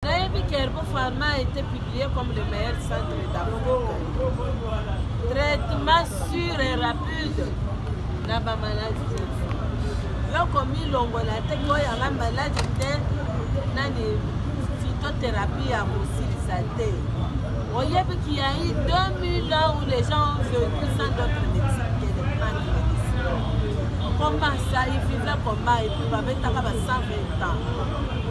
Nayebi que Herbo Pharma a été publié comme le meilleur centre d'Afrique. Traitement sûr et rapide na ba maladies. Loko milongola te ko yanga maladi te nani phytothérapie ya kosilisa te. Oyebi qu'il y a eu 2000 ans où les gens ont vécu sans d'autres médecins que les plantes médicinales. Comment ça, ils vivaient comment et puis babetaka ba 120 ans.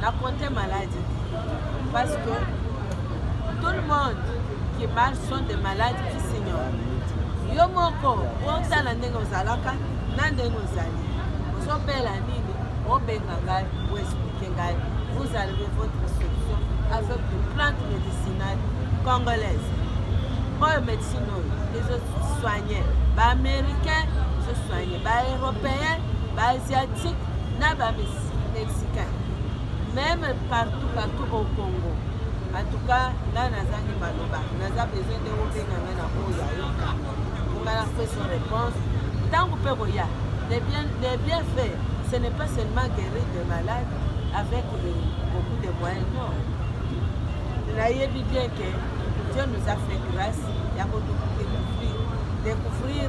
na compte malade parce que tout le monde qui marche sont des malades qui s'ignorent yo moko otala ndenge ozalaka na ndenge ozali ozobela nini obenga ngai oexplike ngai vous arrivez votre solution avec de plante médicinale congolaise oyo médecine oyo ezosoigne baaméricain ezosoigne ba européens ba asiatiques na ba mexicains même partout partout au congo en tout cas ngai nazangi maloba naza besoin nde obenga ngai na oyo ayoka ponga na peso réponse ntango mpe koya les bien, les bien fait ce n'est pas seulement guérir de malade avec beaucoup de moyens non nayebi bien que dieu nous a fait grâce ya kotukuki découvrir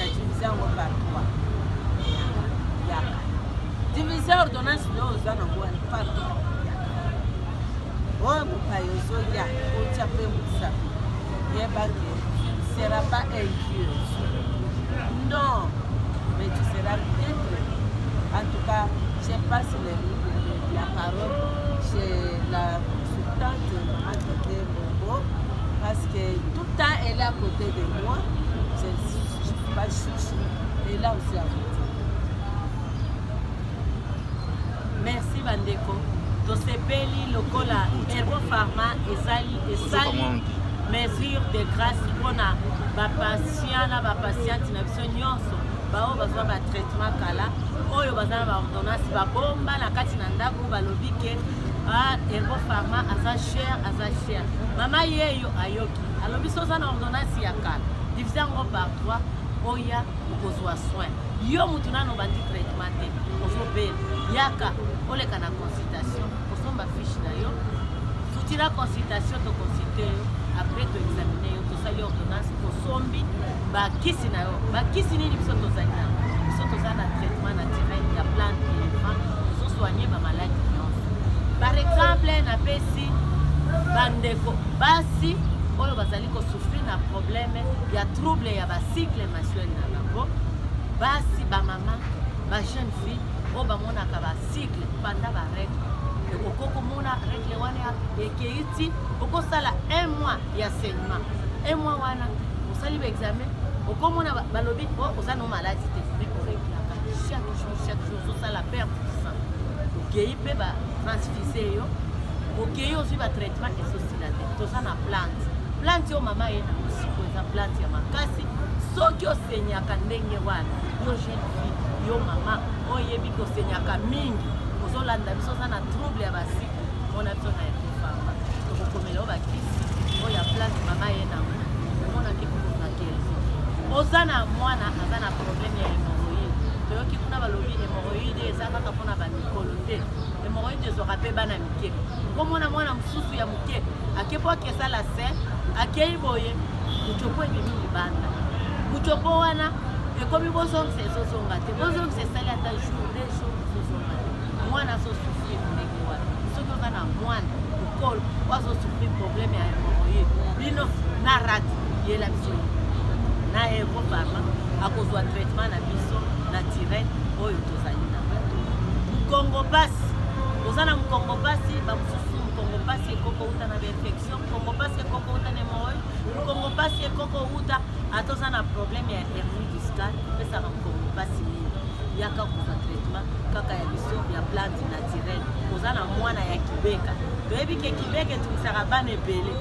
diviser yango par trois yaka diviser ordonnance nde oza nango wana par trois oyo mopai ozoya otya mpe mosapi yeba ke sera pas incure non mais tu seras bien traité en tout cas je passe le, la parole chez la consultante Maman Bombo parce que tout Tant elle est à côté de moi, je ne suis pas chouchou. Et là aussi à côté. Merci bandeko. tosepeli lokola herbo pharma esali mesure de grâce mpo na bapatient na bapatiente na biso nyonso baoyo bazwa batraitement kala oyo baza na baordonnance babomba na kati na ndako balobi ke ah Herbo Pharma aza cher aza cher mama yeyo ayoki alobi so oza na ordonnance ya kala divise yango par 3 oya okozwa soin yo motu nano obandi traitement te ozobela yaka oleka na consultation osomba fiche na yo futira consultation toconsulte yo après toexamine yo tosali ordonnance osombi ba kisi na yo ba kisi nini biso tozali na biso toza na traitement naturel ya plante elephant ezo soigner ba maladi nyonso par exemple napesi bandeko basi oyo bazali kosouffrir na problème ya trouble ya bacycle mensuel na bango basi bamama ba jeune fille oyo bamonaka bacycle banda baregle okoki komona regle wana ekei ti okosala un mois ya saignement un mois wana osali ba examen okomona balobi oh, oza no maladi te mais oreglaka chaque jour chaque jour ozosala perte du sang okei mpe ba transfuse yo okei ozwi ba traitement esosila te toza na plante plante oyo mama ye na mosiko eza plante ya makasi soki osenyaka ndenge wana yo jeune fille yo mama oyebi kosenyaka mingi ozolanda biso oza na trouble ya basika Mona tona ya kofama. Tokokomela yo bakisi oyo ya place mama ye nango. Omona ke kokona kezi. Oza na mwana aza na problème ya hémorroïde. Toyoki kuna balobi hémorroïde eza kaka mpo na bamikolo te. Hémorroïde ezwaka mpe bana mike. Komona mwana mosusu ya moke ake mpo akesala se akei boye mucopo ebimi libanda. Mucopo wana ekomi bozongisa ezozonga te bozongisa esali ata jour de jour Mwana azo souffrir ndenge wana. Soki oza na mwana mokolo oyo azo souffrir problème ya hémorroïde, bino na rat yela biso na Euro Pharma akozwa traitement na biso na tirette oyo tozali na mukongo pasi oza na mukongo pasi bamosusu mukongo pasi ekoko uta na bainfection mukongo pasi ekoko uta na hémorroïde mukongo pasi ekoko uta ata oza na problème ya hernie discale epesaka mokongo mpasi mingi yaka kozwa traitement kaka ya biso ya plante naturel oza na mwana ya kibeka toyebi ke kibeka etungisaka bana ebele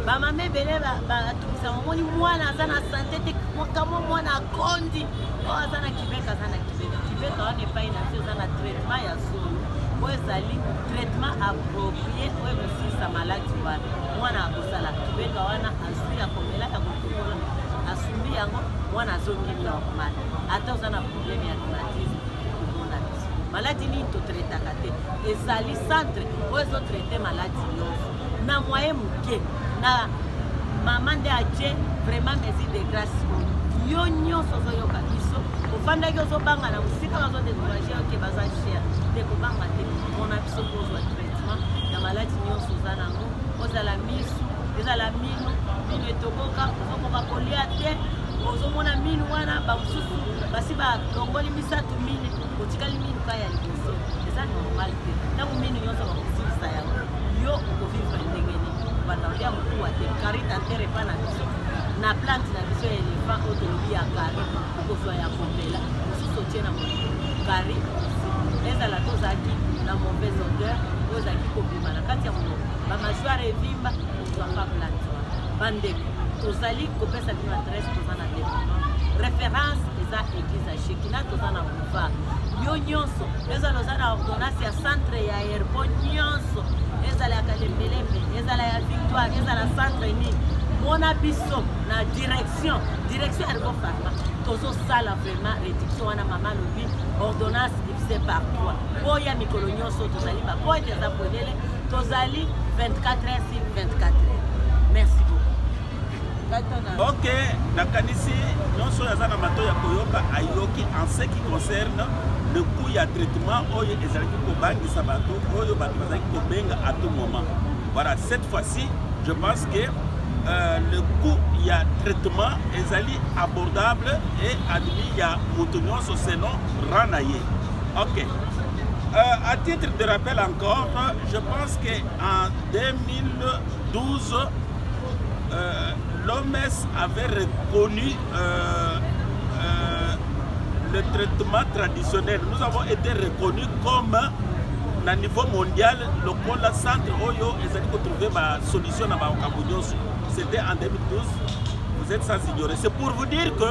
bamama ebele batungisa omoni mwana aza na sante te kamwa mwana akondi oyo oh, aza na kibeka aza na kibeka kibeka wana epai na biso eza na traitement ya solo oyo ezali traitement approprié oyo ekosilisa maladi wana mwana akosala kibeka wana azwi ya komela ya asumbi yango mwana azongi normal ata oza na problème ya rhumatisme komona biso maladi nini totretaka te ezali centre oyo ezotraite maladi nyonso na moye moke na mama nde atie vraiment mesure de grace yo nyonso ozoyoka biso ofandaki ozobanga na mosika bazodecourage oke baza cher te kobanga te mona biso kozwa traitement ya maladi nyonso oza nango ozala misu ezala mi minu etoboka ozokoka kolia te ozomona minu wana bamosusu basi balongoli misato mine otikali minu ka ya liboso eza normal te ntango minu nyonso bakosilisa yango yo okovivre ndenge nini banda olia mokuwa te karita ntere epa na biso na plante na biso ya elefant oyo tolobi ya kari okozwa ya kopela mosusu otie na molimo kari ezala tozalaki na mauvaise odeur oyo ezalaki kobima na kati ya monoko bamasuare evimba bandeko tozali kopesa bino adresse toza na departement référence eza église ya shekina toza na boulevard yo nyonso ezala oza na ordonnance ya centre ya airport nyonso ezala ya kalembelembe ezala ya victoire ezala centre nini mona biso na direction direction ya rebo farma tozosala vraiment réduction wana mama alobi ordonnance divise par 3 oya mikolo nyonso tozali bapoete eza polele Tozali 24 heures sur 24 heures. Merci beaucoup. Ok, nakanisi nyonso oyo aza na mato ya koyoka ayoki en ce qui concerne le coût ya traitement oyo ezalaki kobangisa bato oyo bato bazalaki kobenga à tout moment. Voilà, cette fois-ci, je pense que euh, le coût ya traitement ezali abordable et admis ya moto nyonso selon rang na ye. Ok. Euh, à titre de rappel encore, Corps, je pense que en 2012, euh, l'OMS avait reconnu euh, euh, le traitement traditionnel. Nous avons été reconnus comme na niveau mondial lokola centre oyo ezali kotrouve basolution na makambo nyonso c'était en 2012 vous êtes sans ignorer c'est pour vous dire que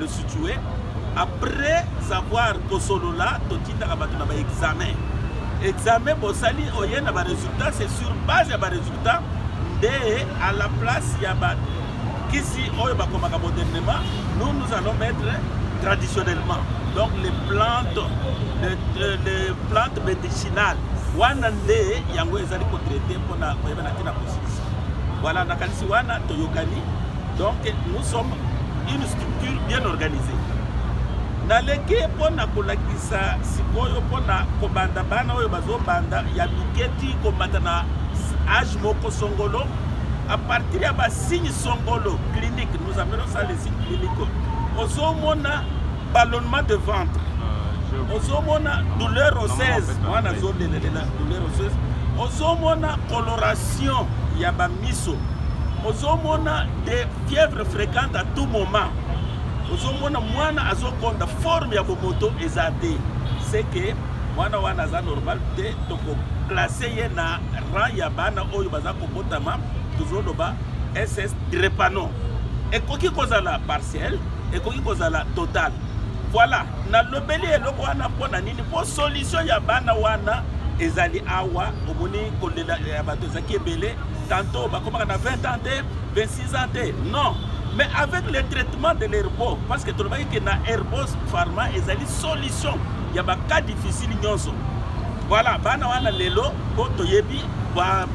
le situe après avoir kosolola totindaka bato na baexamen examen bosali oye na baresultat c'est sur base ya baresultat nde à la place ya bakisi oyo bakomaka modernement nous nous allons mettre traditionnellement donc les plantes les, euh, les plantes médicinales wana nde yango ezali kotraite mpona koyeba na ntina kosisi voilà nakanisi wana toyokani Donc nous sommes une structure bien organisée. naleki mpo na kolakisa sikoyo mpo na kobanda bana oyo bazobanda ya miketi komata na age moko songolo à partir ya basigne songolo clinique nous appelons ça les signes cliniques ozomona ballonnement de ventre ah, ozomona douleur oseuse wana azolelelela douleur oseuse ozomona coloration ya miso ozomona de fièvre fréquente à tout moment ozomona mwana azokonda forme ya bomoto eza te seke mwana wana aza normal te tokoklase ye na rang ya bana oyo baza kobotama tozoloba ss drepano ekoki kozala partiel ekoki kozala total voilà nalobeli eloko wana mpo na po solution ya bana wana ezali awa omoni kolela ya bato ezalaki ebele tanto bakomaka na 20 ans te 26 ans te non mais avec le traitement de l'herbo parce que tolobaki ke na herbos pharma ezali solution ya bacas difficile nyonso voilà bana wana lelo po toyebi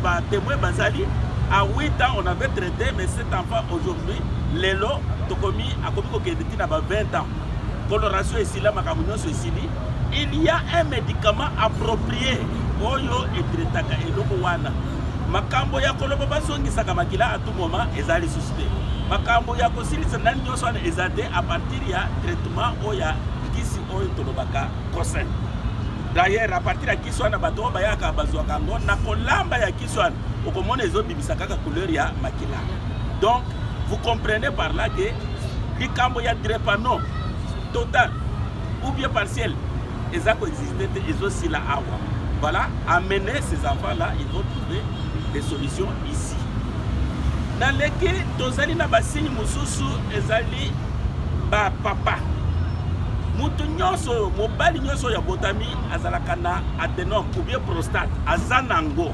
batemoin ba bazali à 8 ans on avait traité mais cet enfant aujourd'hui lelo tokomi akomi kokende ti na ba 20 ans coloration esila makambo nyonso esili il y a un médicament approprié oyo etretaka eloko wana makambo ya koloba bazongisaka makila a tout moment eza lisusu te makambo ya kosilisa nani nyonso wana eza te a partir ya traitement oyo ya kisi oyo tolobaka conseil d'ailleurs a partir ya kisi wana bato oyo bayaka bazwaka yango na kolamba ya kisi wana okomona ezo bimisa kaka couleur ya makila donc vous comprenez par là que likambo ya drepano total ou bien partiel eza koexiste te ezosila awa voilà amener ces enfants là ils vont trouver des solutions ici naleki tozali na basigne mosusu ezali bapapa moto nyonso mobali nyonso oyo abotami azalaka na adenome ou bien prostate aza nango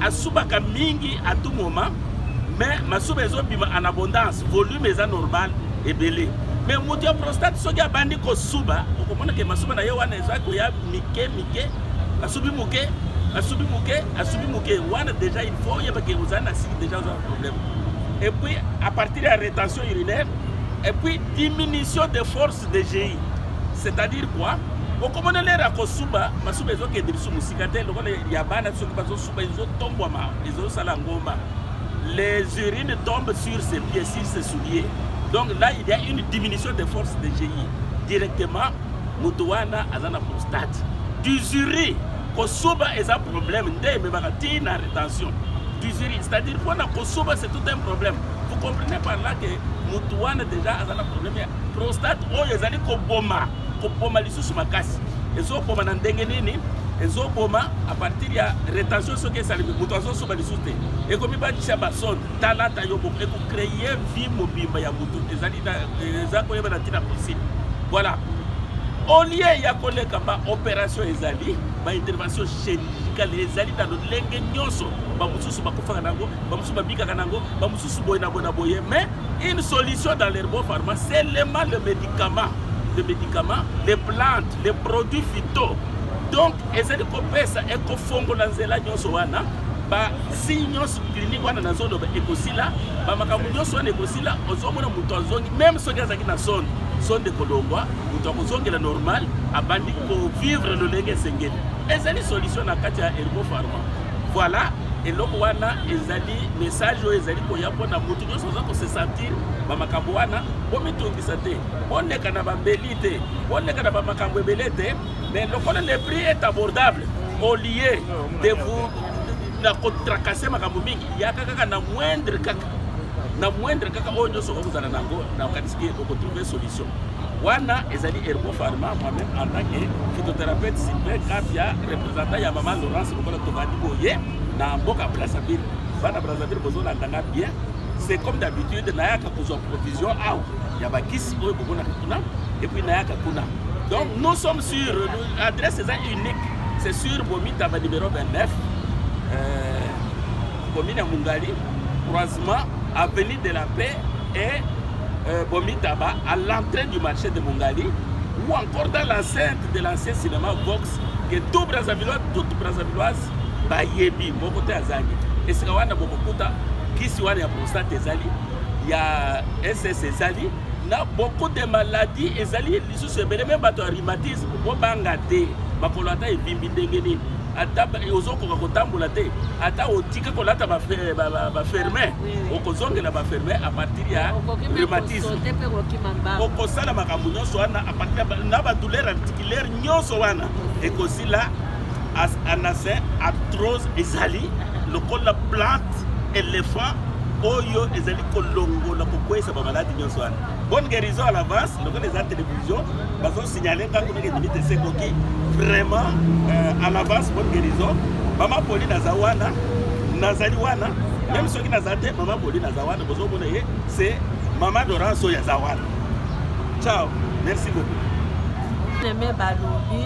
asubaka mingi à tout moment mais masuba ezobima en abondance volume eza normal ebele mais moto ya prostate soki abandi kosuba okomona ke masuba na ye wana eza koya mike mike asubi moke asubi moke asubi moke wana déjà il faut oyeba ke ozali na siki déjà oza na problème et puis à partir ya rétention urinaire et puis diminution de force DGI c'est-à-dire quoi okomona lere ya kosuba masuba ezokende biso mosika te lokola ya bana soki bazosuba ezotombwama ezosala ngomba les urines tombent sur ses pieds sur ses souliers donc là il y a une diminution de force de GI directement moto wana aza na prostate dusuri kosuba eza problème nde ememaka ti na rétention dusuri c'est-à-dire mpona kosuba c'est tout un problème vous comprenez par là que moto wana déjà aza na problème Prostate oyo ezali koboma koboma lisusu makasi, ezoboma na ndenge nini? ezoboma a partir ya retention soki esalemi moto azosoba lisusu te ekomi bakisa basone talata yo moko ekocreye vie mobimba ya motu ezali eza koyeba na ntina principe voilà olie ya koleka baopération ezali baintervention chirurgicale ezali na lolenge nyonso bamosusu bakufaka na yango bamosusu babikaka na yango bamosusu lisusu boye na boye na boye mais une solution dans l'herbopharma seulement le médicament le médicament les plantes les produits phyto donc ezali kopesa ekofongola nzela nyonso wana basigne nyonso klinike wana nazoloba ekosila bamakambo nyonso wana ekosila ozomona moto azongi meme soki azalaki na sonde sonde ekolongwa moto akozongela normal abandi kovivre lolenge esengeli ezali solution na kati ya ergo pharma Voilà, eloko wana ezali message oyo ezali koya mpo na moto nyonso aza kose sentir bamakambo wana. Bomitungisa te, boleka na bambeli te, boleka na bamakambo ebele te, mais lokola le prix est abordable au lieu de vous na kotracase makambo mingi, yaka kaka na moindre kaka na moindre kaka oyo nyonso okozala nango, nakanisi ke okotrouve solution. wana ezali ergo pharma moi-même en tant que phytothérapeute sylvain kapia représentant ya mama laurence lokola tobandi boye na mboka brazzaville bana brazzaville bozolanda nga bien c'est comme d'habitude nayaka kozwa provision awa ya bakisi oyo bomonaka kuna epuis nayaka kuna donc nous sommes sur adresse eza unique c'est sur bomita ba numéro 29 euh, Commune ya Mungali, croisement avenue de la paix et euh, Bomitaba à l'entrée du marché de Mungali ou encore dans l'enceinte de l'ancien cinéma Vox que tout Brazzavillois, toute Brazzavilloise bayebi moko te azangi esika wana bokokuta kisi wana ya prostate ezali ya ss ezali na beaucoup de maladies ezali lisusu ebele me bato ya rhumatisme bobanga te makolo ata evimbi ndenge nini ata ozokoka kotambola te ata otiki kolata baferme eh, okozongela baferme apartir ya rhumatisme okosala makambo nyonso wana apartir na badouleur articulaire nyonso wana ekosila anase artrose ezali lokola plante elephant oyo ezali kolongola kokweyisa bamaladi nyonso wana bonne guérison à l'avance lokola eza télévision signaler ngai kuna ke limite esekoki vraiment euh, à l'avance bonne guérison mama poli naza wana nazali wana meme soki naza te mama poli naza wana bozomona ye c'est mama dorance oyo aza wana ciao merci beaucoup neme balobi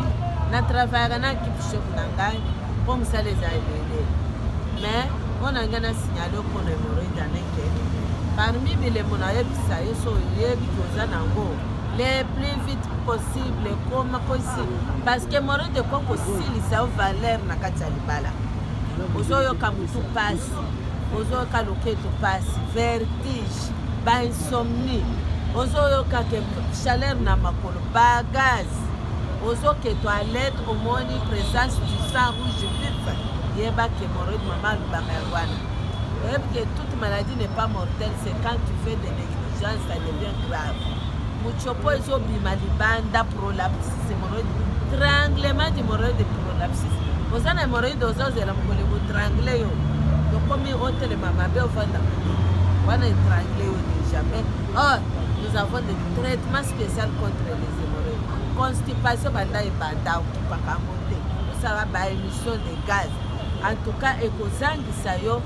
na travaillaka na ekipe chef na ngai mpo mosala eza ebele mais mpo na ngai na signale okona emoroidaneke parmi bilemo nayebisa yo so oyebi koza nango le plus vite possible koma kosi parce que moro de ko kosilisa yo valeur na kati ya libala ozoyoka motu mpasi ozoyoka loketo mpasi vertige bainsomnie ozoyoka ke chaleur na makolo bagaz ozoke toilette omoni présence du sang rouge vif yeba ke moro mama alobaka ya wana oyebi ke toute maladie n'est pas mortelle c'est quand tu fais de Jean ça devient grave. Muchopo ezo bima libanda prolapse hemorrhoïde. Tranglement d'hemorrhoïde prolapse. Oza na hemorrhoïde ozo zela mokolo ko trangle yo. Tokomi otelema mabe ofanda. Wana etrangle yo déjà mais oh nous avons des traitements spéciaux contre les hémorroïdes. Constipation banda ebanda okipaka yango te. Osala ba émission de gaz. En tout cas ekozangisa yo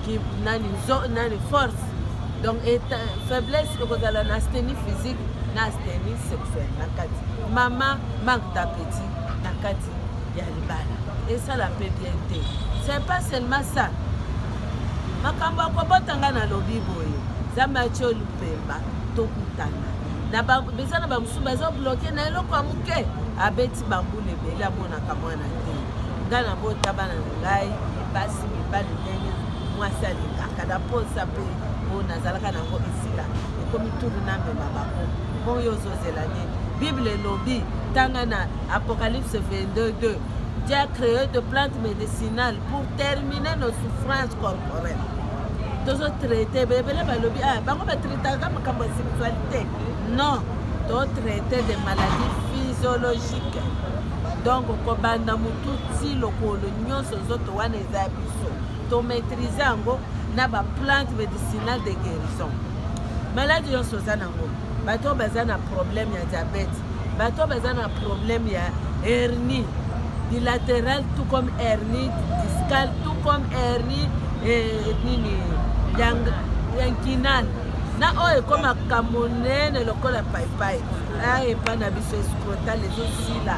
ki nani zo nani force donc faiblesse ekozala na steni physique na steni sexuel na kati mama manque d'appétit na kati ya libala esala mpe bien te c'est pas seulement ça makambo ya kobota ngai nalobi boye nzambe atye olupemba tokutana eza na bamosusu baza bloke na eloko ya moke abeti bambula ebele amonaka mwana te ngai nabota bana na ngai basi mibali ndenge mwasi alingaka na mposa mpe oyo nazalaka nango esila ekomi tulu na mema bango bon yo ozozela nini bible elobi tanga na apocalypse 222 Dieu a créé de plantes médicinales pour terminer nos souffrances corporelles tozotraite ebele balobi ah, bango batraitaka makambo ya sexualité non totraite de maladie physiologique donc kobanda motu ti lokolo nyonso nzoto wana eza ya biso to maîtrise yango na ba plante medicinal de guérison maladi nyonso oza nango bato oyo baza na problème ya diabète bato oyo baza na problème ya hernie bilatéral tout comme hernie discal tout comme hernie eh, nini ya nkinal na oyo ekomaka monene lokola paipai aepa ah, na biso escrotal ezosila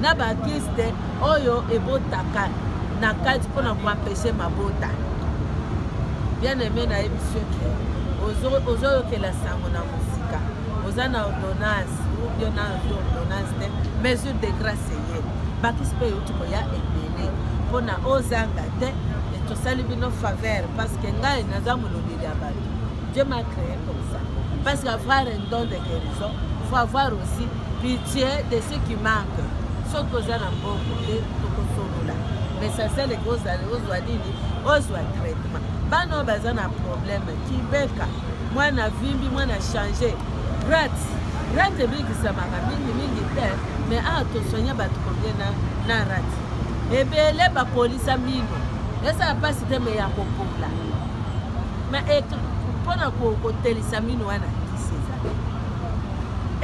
na ba kiste oyo ebotaka na kati mpona koampeshe mabota bien aime nayebi soki ozoyokela sango na mosika oza na ordonnance ubio na ordonnance te mesure de grace eye bakisi mpe euti koya ebele mpona ozanga te tosali bino faveur parce que ngai naza molobeli ya bato je ma cree comme ça parce qu'avoir un don de guérison faut avoir aussi pitie de ce qui manque soki oza na mbongo te tokosolola messasele kozala ozwa nini ozwa traitement bana oyo baza na probleme kibeka mwana vimbi mwana change rat rat ebikisamaka mingimingi te me awa tosoigne bato kobie na, na rat ebele bakolisa mino esala mpasi te me ya kopola mpo na kotelisa mino wana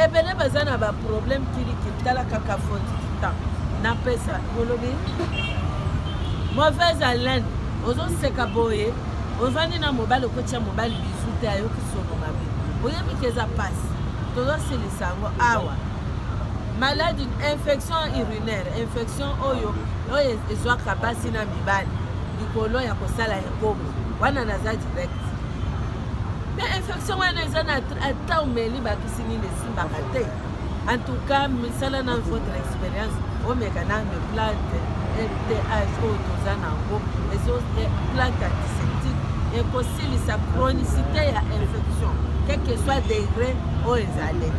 ebele baza na ba problème kiliki tala kaka foti kitan napesa olobi mauvaise haleine ozoseka boye ovandi na mobali okotya mobali bizu te ayoki solo mabe oyebi ke eza mpasi tozosilisa yango awa maladi infection urinaire infection oyo oyo ezwaka basi na mibali likolo ya kosala ekobo wana naza direct mpe infection wana eza na ata omeli bakisi nini esimbaka te en tout cas misala na votre expérience omeka nano plante mph oyo toza na yango ezo eh, plante antiseptique ekosilisa chronicité ya infection quelque soit degré oyo ezali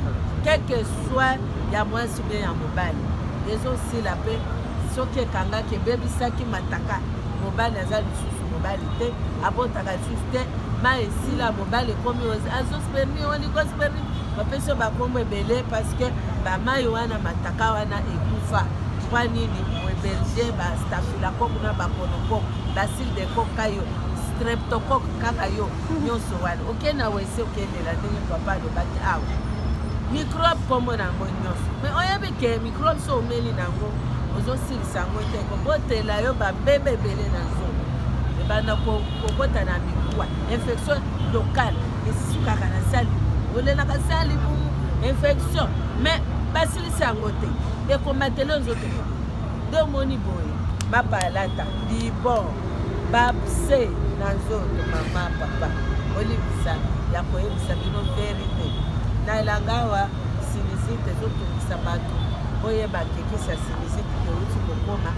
quelque soit ya mwasi bie ya mobali ezosila mpe soki ekangaki ebebisaki mataka mobali aza lisusu mobali te abotaka lisusu te ma esila mobali ekomi azosperni olikosperni bapesi yo bakombo ebele parce que bamai wana mataka wana ekufa mwa nini moeberge bastafilakok na bakonokok basile de kok kayo streptokok kaka yo nyonso wana oke na wese okendela ndenge papa alobaki awa mikrobe nkombo na yango nyonso me oyebi ke mikrobe so omeli na yango ozosi kosilisa yango te kobotela yo babebe ebele na zolo ebanda kokota na mikuwa infection locale esukaka na sali olelaka sali bumu infection mais basilisa yango te ekomatela nzoto nde omoni boye bapalata bibon bapse na nzoto mama papa olibisa ya koyebisa bino verite na elanga awa sinizite ezotungisa bato boyeba kekisa miziki euti kokoma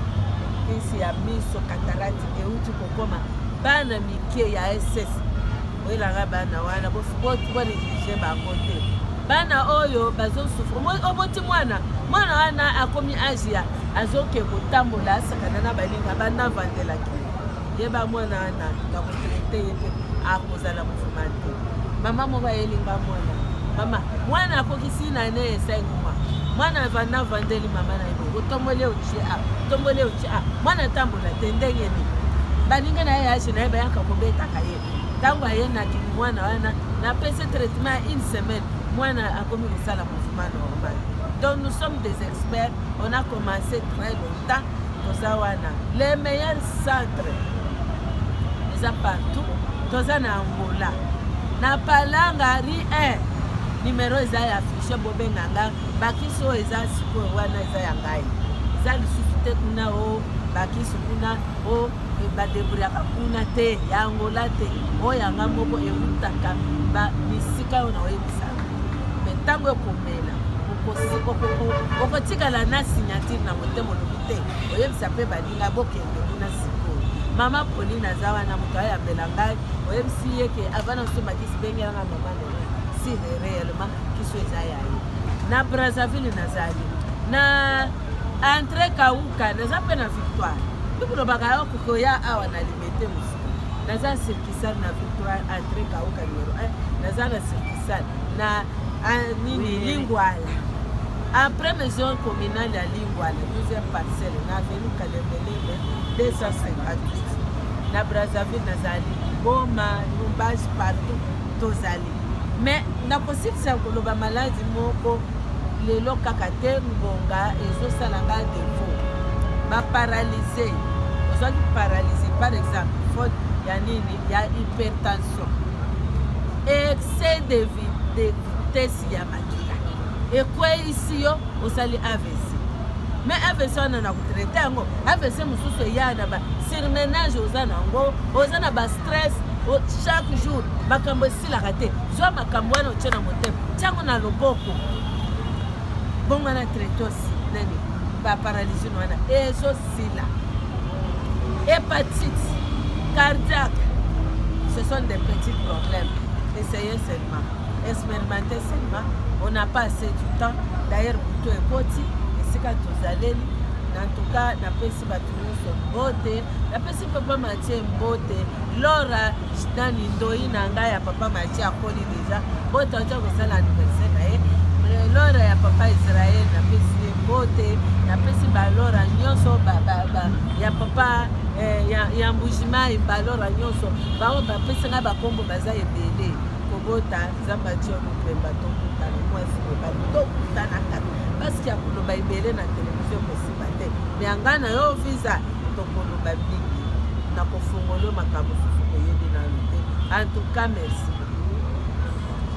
kisi ya miso katalati euti kokoma bana mike ya ss oyelanga bana wana boneglige bango te bana oyo bazosufre oboti mwana mwana wana akomi age ya azoke kotambola asakana na baninga banda vandelaki yeba mwana wana na kotraite ye te akozala movima te mama moko ayelinga mwana mama mwana akokisi na ne esenguma mwana avanda avandeli mama na ye bongo tomboli euti a tomboli euti a mwana atambola te ndenge nini baninga na ye ya age na ye bayaka kobetaka ye ntango aye na mwana wana napesi traitement ya une semaine mwana akomi kosala movima normal donc nous sommes des experts On a commencé très longtemps toza wana les meilleurs centres eza partout toza na Angola na Palanga rue 1 numero eza ya affiche bobenga nga bakisi oyo eza sikoyo wana eza ya ngai eza lisusu te kuna o oh, bakisi kuna o oh, badebriyaka kuna te ya Angola te oyo oh, yanga moko ewutaka bisika oyo naoyebisa me ntango ekoma okotikala na signature na motema olobi te oyebisa mpe baninga bokende kuna sikoyo mama polina aza wana moto ayambela ngai oyebisi ye ke avana osomakisi bengelanga mama lelo si réellement kiso eza ya ye na brazzaville nazali na entre kauka naza mpe na victoire tokolobaka yo kokoya awa na limete mosuku naza cirkisal na victoire entre kauka numero 1 naza na cirkisal na ah, nini lingwala après maison communale ya lingwala 12e parcelle na avenu kalembelele 258 na brazzaville nazali boma lumbage partout tozali mais nakosilisa koloba maladi moko lelo kaka te ngonga ezosala nga defo baparalyse ozwaki paralyse par exemple faute ya nini ya hypertension excès de vitesse ya makila ekweisi yo osali avc me avc wana na kotraite yango avc mosusu eya na ba surmenage oza na yango oza na bastress chaque jour makambo esilaka te zwa makambo wana otye na motema ntango na loboko bongwana traite osi nani ba paralysie wana ezosila hepatite cardiaque ce sont des petits problèmes essayez seulement expérimentez seulement on n'a pas assez du temps d'ailleurs butu ekoti esika tozaleli na ntuka napesi bato nyonso mbote napesi papa matie mbote lora Dani ndoyi na ngai ya papa Machi akoli deja bote autya kosala anniversaire na ye lora ya papa Israel napesi ye bote napesi balora nyonso ya papa eh, ya mbujimai balora nyonso bango bapesi ngai bakombo baza ebele kobota nzambe atio mopemba tokutana mwasi mobali tokutanaka basiki ya koloba ebele na televizio kosi te me anga na yo visa tokoloba mingi na kofongolo makambo susu koyebi nanu te en tout cas merci